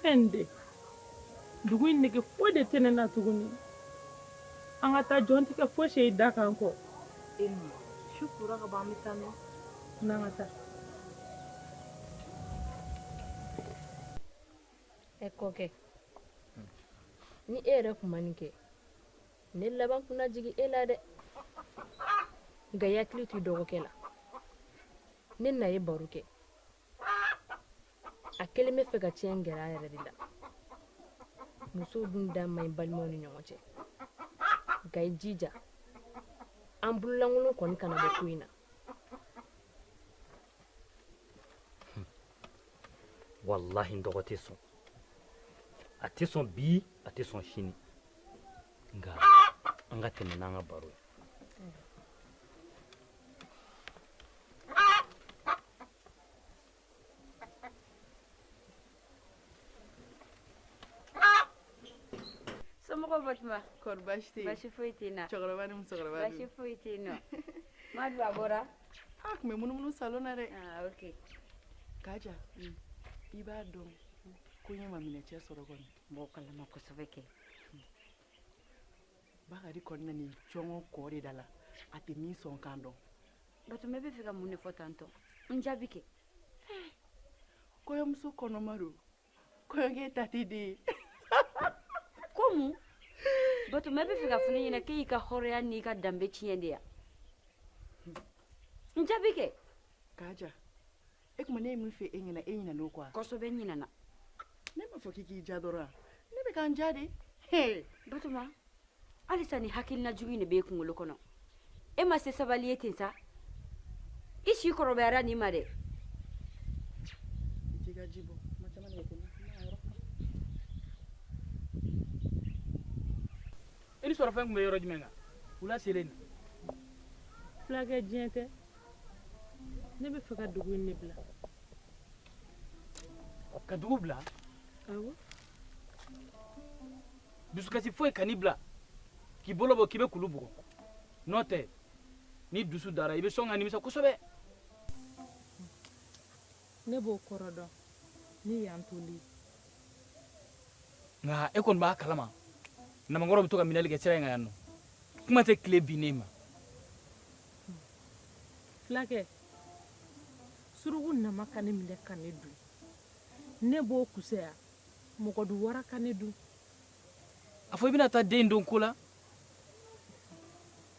fɛn de dugu in nege foyi de tɛ ne na tuguni an ka taa jɔn tigɛ fo i se da kan ko e ma su kora ka ban an bɛ taa n'o n'an ka taa ɛ kɔkɛ ni e yɛrɛ tun ma nin kɛ ne laban tun na jigin e la dɛ nka i hakili t'i dɔgɔkɛ la ne na ye baro kɛ a kelen bɛ fɛ ka cɛ gɛrɛ a yɛrɛ de la musow dun da man ɲi balimaw ni ɲɔgɔn cɛ nka i jija an bololankolon kɔni kana bɔ ko in na walahi n dɔgɔ tɛ sɔn a tɛ sɔn bi a tɛ sɔn sini nka an ka tɛmɛ n'an ka baro ye Somɔgɔw Batoma? Kɔri baasi tɛ yen? Baasi foyi t'i la. Cɛkɔrɔba ni musokɔrɔba dun? Baasi foyi tɛ yen nɔ. Madu a bɔra? A tun bɛ munumunu salon na dɛ. Aa ok. Kaja, un, i b'a dɔn ko n ye maminɛcɛ sɔrɔ kɔni? N b'o kalama kosɛbɛ kɛ. bakari kɔni nanin jɔngɔ kɔ de da la a tɛ min sɔn kan dɔn batoma e bɛ fɛ ka mun de fɔ tantɔ n jaabi kɛ kɔɲɔmuso kɔnɔma don kɔɲɔkɛ ta tɛ den ye ko mun batoma e bɛ fɛ k'a fɔ ne ɲɛna k'e y'i ka hɔrɔnya n'i ka danbe tiɲɛ de ya n jaabi kɛ kaja e kuma ne ye min fɔ e ɲɛna e ɲinan'o kɔ kosɛbɛ ɲinana ne b'a fɔ k'i k'i ja dɔrɔn ne bɛ k'an ja de batoma halisa ni hakilina jugu in de b'e kunkolo kɔnɔ e ma se sabali ye ten sa i si kɔrɔbayara nin ma dɛ i ni sɔrɔfɛn tun bɛ yɔrɔ jumɛn kan wula selen nin fulakɛ diɲɛ tɛ ne bɛ fɛ ka dugu in ne bila ka dugu bila awɔ dusukasi foyi kan'i bila k'i bolo bɔ k'i bɛ kulu bugɔ n'o tɛ ni dusu dara i bɛ sɔn ka nimisa kosɛbɛ ne b'o kɔrɔ dɔn ne y'an toli nka e kɔni b'a kalama namakɔrɔ bɛ to ka minɛli kɛ sira in kan yan nɔ kuma tɛ tile binnen ma fulakɛ suruku nama ka ne minɛ ka ne dun ne b'o kusaya mɔgɔdunwara ka ne dun a fɔ i bɛna taa den don ko la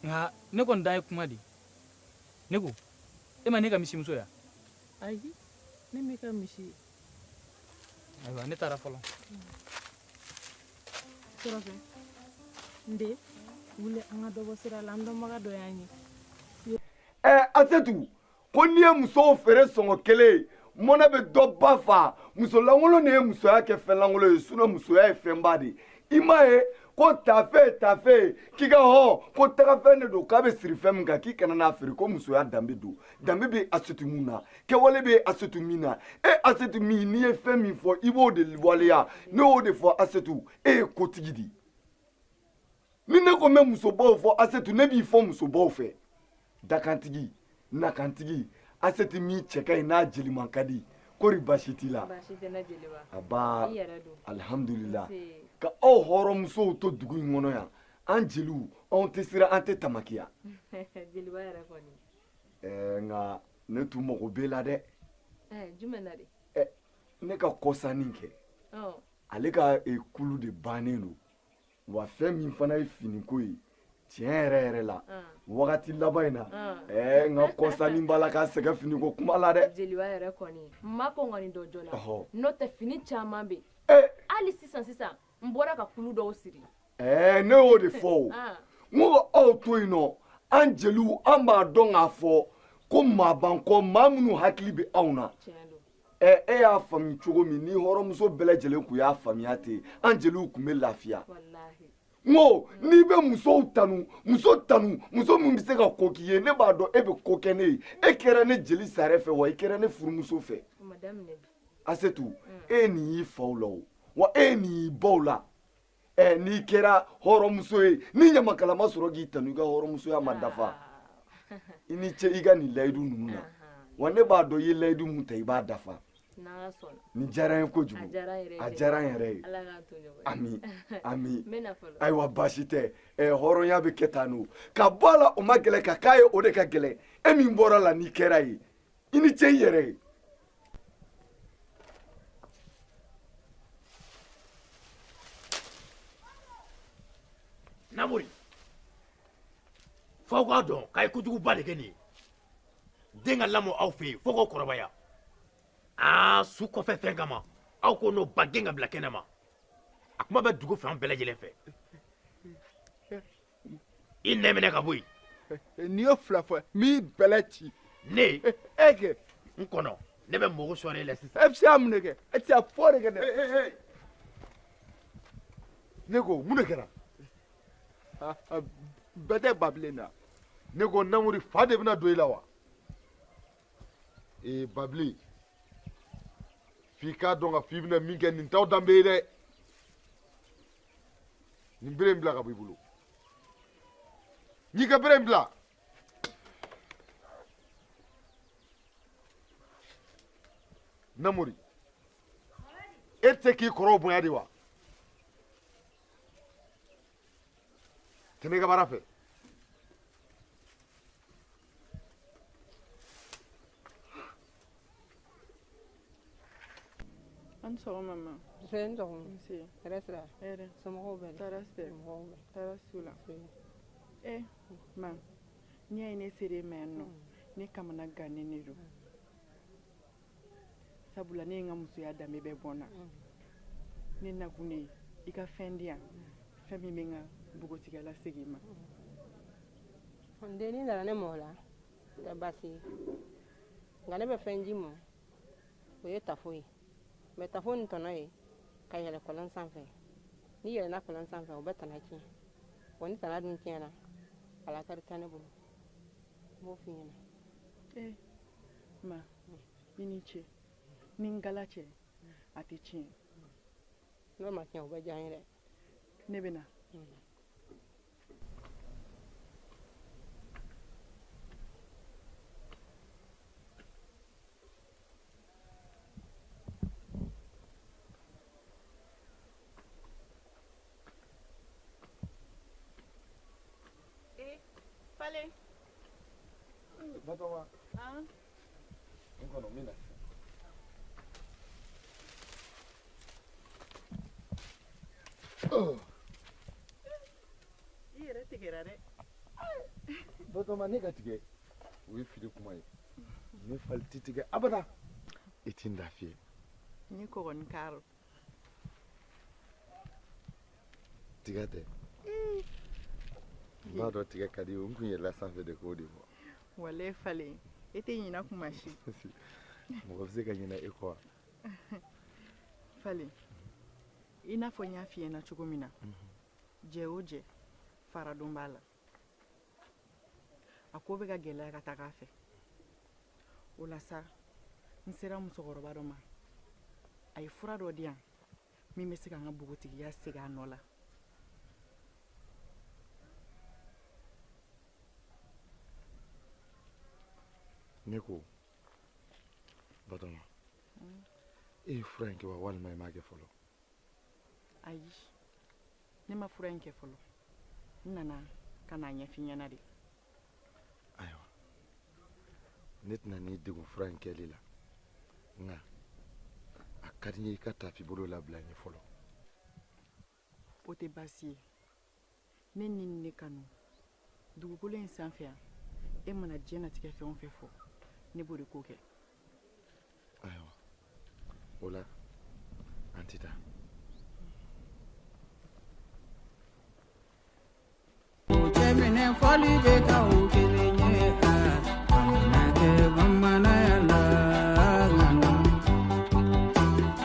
nka ne kɔni dan ye kuma de ne ko e ma ne ka misimuso ye wa ayi ne m'i ka misi ye ayiwa ne taara fɔlɔ surɔfɛ n den wuli an ka dɔ bɔ sira la an dɔnbaga dɔ y'an ye ɛɛ asetu ko n'i ye musow feere sɔngɔ kelen mɔnɛ bɛ dɔ ba fa musolankolon de ye musoya kɛ fɛnlankolon ye sinɔ musoya ye fɛnba de ye i m'a ye ko taafe taafe k'i k'a dɔn ko tagafɛn de don k'a bɛ siri fɛn min kan k'i kana n'a feere ko musoya danbe don danbe bɛ asetu min na kɛwale bɛ asetu min na e asetu min n'i ye fɛn min fɔ i b'o de waleya ne y'o de fɔ asetu e ye kotigi di ni ne ko n bɛ musobaw fɔ asetu ne b'i fɔ musobaw fɛ dakantigi nakantigi asetu min cɛ ka ɲi n'a jeliman ka di kori baasi t'i la a ba alihamudulila ala ka aw hɔrɔnmusow to dugu in kɔnɔ yan an jeliw anw tɛ siran an tɛ tamakiya ɛɛ nka ne tun mago b'e la dɛ ɛɛ jumɛn na de ɛ ne ka kɔsanni kɛ ale ka e, kulu de bannen don wa fɛn min fana ye finiko ye tiɲɛ yɛrɛ yɛrɛ la wagati laban in na ɛɛ n ka kɔsanni b'a la ka sɛgɛn finiko kuma la dɛ jeliba yɛrɛ kɔni n ma kɔn kɔni dɔ jɔ la n'o tɛ fini caman bɛ yen hali sisan sisan n bɔra ka kulu dɔw siri ɛɛ ne y'o de fɔ o ah. n ko aw to yen nɔ an jeliw an b'a dɔn k'a fɔ ko maa b'an kɔ maa minnu hakili bɛ anw na ɛ e y'a faamu cogo min ni hɔrɔnmuso bɛɛ lajɛlen tun y'a faamuya ten an jeliw tun bɛ lafiya n ko n'i bɛ musow tanu muso tanu muso min bɛ se ka ko k'i ye ne b'a dɔn e bɛ ko kɛ ne ye e kɛra ne jeli sare fɛ wa i kɛra ne furumuso fɛ asetu mm. e ye nin y'i faw la o wa e ye nin y'i baw la ɛ n'i kɛra hɔrɔnmuso ye ni ɲamakala ma sɔrɔ k'i tanu i ka hɔrɔnmusoya ma dafa ah. i ni ce i ka nin layidu ninnu na wa ne b'a dɔn i ye layidu min ta i b'a dafa nin diyara n ye kojugu a diyara n yɛrɛ ye ami ami ayiwa baasi tɛ ɛ hɔrɔnya bɛ kɛ tan n'o ka bɔ a la o man gɛlɛn ka k'a ye o de ka gɛlɛn e min bɔra a la n'i kɛra a ye i ni ce i yɛrɛ ye namori f'aw k'a dɔn k'a ye kojuguba de kɛ nin ye den ka lamɔ aw fɛ yen fo k'o kɔrɔbaya aa su kɔfɛ fɛn kama aw k'o n'o ba gɛn ka bila kɛnɛ ma a kuma bɛ dugu fan bɛɛ lajɛlen fɛ i nɛn minɛ ka bɔ yen n'i ye fila fɔ n b'i bɛlɛ ci ne e kɛ n kɔnɔ ne bɛ mɔgɔ sɔrɔ e la sisan e bɛ se ka mun de kɛ e tɛ se ka foyi kɛ dɛ ne ko mun de kɛra bɛɛ tɛ babilen na ne ko namori fa de bɛna don i la wa ee babilen f'i k'a dɔn ka f'i bɛna min kɛ nin t'aw danbe ye dɛ nin bere in bila ka bɔ i bolo n'i ka bere in bila namori e tɛ k'i kɔrɔw bonya de wa tɛmɛ i ka baara fɛ an sɔgɔma ma fɛn sɔgɔma nse hɛrɛ sira hɛrɛ somɔgɔw bɛ tɔɔrɔ si tɛ mɔgɔw bɛ tɔɔrɔ si t'u la ɛ ma n'i y'a ye ne sera i ma yan nɔ ne kamanagannen de don sabula ne ye n ka musoya danbe bɛɛ bɔn na ne nakun de ye i ka fɛn di yan fɛn min bɛ n ka npogotigiya lasegin n ma n den n'i nana ne mɔgɔ la tɛ baasi ye nka ne bɛ fɛn di i ma o ye tafo ye mɛ tafo nin tana ye ka yɛlɛ kɔlɔn sanfɛ n'i yɛlɛna kɔlɔn sanfɛ o bɛ tana tiɲɛ wa ni tana dun tiɲɛna a lakari tɛ ne bolo n b'o f'i ɲɛna ee eh, ma i ni ce ni ngala cɛ a tɛ tiɲɛ n'o ma tiɲɛ o bɛ diya n ye dɛ ne bɛ na Falen batoma n kɔnɔ n bɛ na i yɛrɛ tigɛra dɛ batoma ne ka tigɛ o ye fili kuma ye ne Falen ti tigɛ abada i ti n lafiye ni kɔgɔni karo tiga tɛ mm. n b'a dɔn tiga ka di i ye n kun yɛlɛla sanfɛ de k'o de fɔ wale falen i tɛ ɲina kuma si mɔgɔ bɛ se ka ɲina i kɔ wa falen i n'a fɔ n y'a f'i ɲɛna cogo min na mhm. jɛ o jɛ faradon b'a la a ko bɛ ka gɛlɛya ka taga a fɛ o la sa n sera musokɔrɔba dɔ ma a ye fura dɔ di yan min bɛ se ka n ka npogotigiya segin a nɔ la ne ko batoma e ye fura in kɛ wa walima i m'a kɛ fɔlɔ ayi ne ma fura in kɛ fɔlɔ n nana ka n'a ɲɛfɔ i ɲɛna de ayiwa ne tɛna n'i degun fura in kɛli la nka a ka di n ye i ka tafi bolo labila n ye fɔlɔ o tɛ baasi ye ne ni ne kanu dugukolo in sanfɛ yan e mana diɲɛnatigɛ fɛn o fɛn fɔ ne b'o de ko kɛ ayiwa o la an tɛ taa minɛ fɔli bɛ ka o kelen ye a kana kɛ bamananya la